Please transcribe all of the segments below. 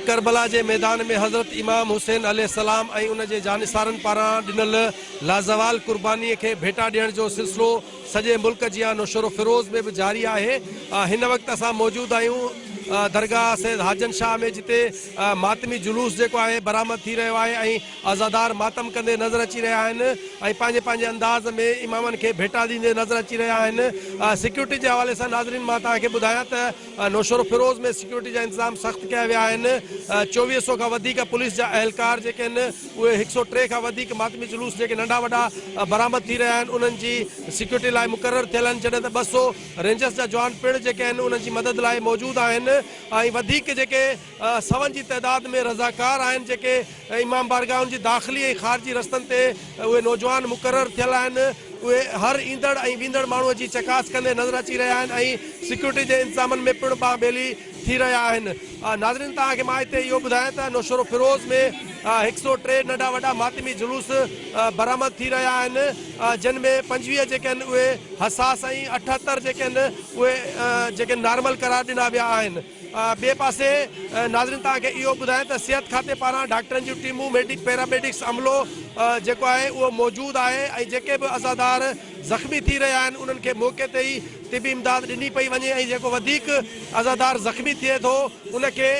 ڪربلا جي ميدان ۾ حضرت امام حسين عليه السلام ۽ ان جي جانثارن پاران ڏنل لازوال قرباني کي ڀيٽا ڏيڻ جو سلسلو سڄي ملڪ جيان نوشهرو فيروز ۾ به جاري آهي هن وقت اسان موجود آهيون درگاهه سيد حاجن شاهه ۾ جتي ماتمي جلوس جيڪو آهي برآمد ٿي رهيو آهي ۽ عزادار ماتم ڪندي نظر اچي رهيا آهن ۽ پنهنجي پنهنجي انداز ۾ امامن کي ڀيٽا ڏيندي نظر اچي رهيا آهن سيڪيورٽي جي حوالي سان ناظرين مان توهان کي ٻڌايان ته نوشهروفيروز ۾ سيڪيورٽي جا انتظام سخت ڪيا ويا آهن، چوويهه سئو کان وڌيڪ پوليس جا اهلڪار جيڪي آهن اهي هڪ سئو ٽي کان وڌيڪ ماتمي جلوس جيڪي ننڍا وڏا برآمد ٿي رهيا آهن انهن جي سيڪيورٽي لاء مقرر ٿيل آهن جڏهن ته ٻه سئو رينجرز جا جوان پڻ جيڪي آهن انهن جي مدد لاء موجود آهن ۽ وڌيڪ جيڪي سون جي تعداد ۾ رضاڪار آهن جيڪي امام بارگاهن جي داخلي ۽ خارجي رستن تي اهي نوجوان مقرر ٿيل آهن اهي هر ايندڙ ۽ ويندڙ ماڻهو جي چڪاس ڪندي نظر اچي رهيا آهن ۽ سيڪيورٽي جي انتظامن ۾ پڻ ٻانهن ٻيلي ٿي رهيا آهن ناظرين توهان کي مان هتي اهو ٻڌايان ته نوشهروفيروز ۾ هڪ سؤ ٽي ننڍا وڏا ماتمي جلوس برآمد ٿي رهيا آهن جن ۾ پنجويهه جيڪي آهن اهي حساس ۽ اٺهتر جيڪي آهن اهي جيڪي نارمل قرار ڏنا ويا آهن ٻئي پاسي ناظرين توهان کي اهو ٻڌايان ته صحت کاتي پاران ڊاڪٽرن جون ٽيمون ميڊڪ پيراميڊڪس عملو جيڪو آهي اهو موجود آهي ۽ جيڪي به عزادار زخمي ٿي رهيا آهن انهن کي موقعي تي ئي طبي امداد ڏني پئي وڃي ۽ جيڪو وڌيڪ عزادار زخمي ٿئي ٿو ان کي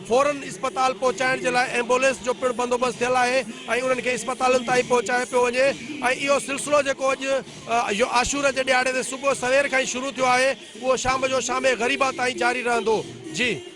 فورن اسپتال پهچائڻ جي لاء ايمبولينس جو پڻ بندوبست ٿيل آهي ۽ انهن کي اسپتالن تائين پهچايو پيو وڃي ۽ اهو سلسلو جيڪو اڄ اهو عاشوره جي ڏهاڙي تي صبح سوير کان ئي شروع ٿيو آهي، اهو شام جو شام غريبا تائين جاري رهندو. جي.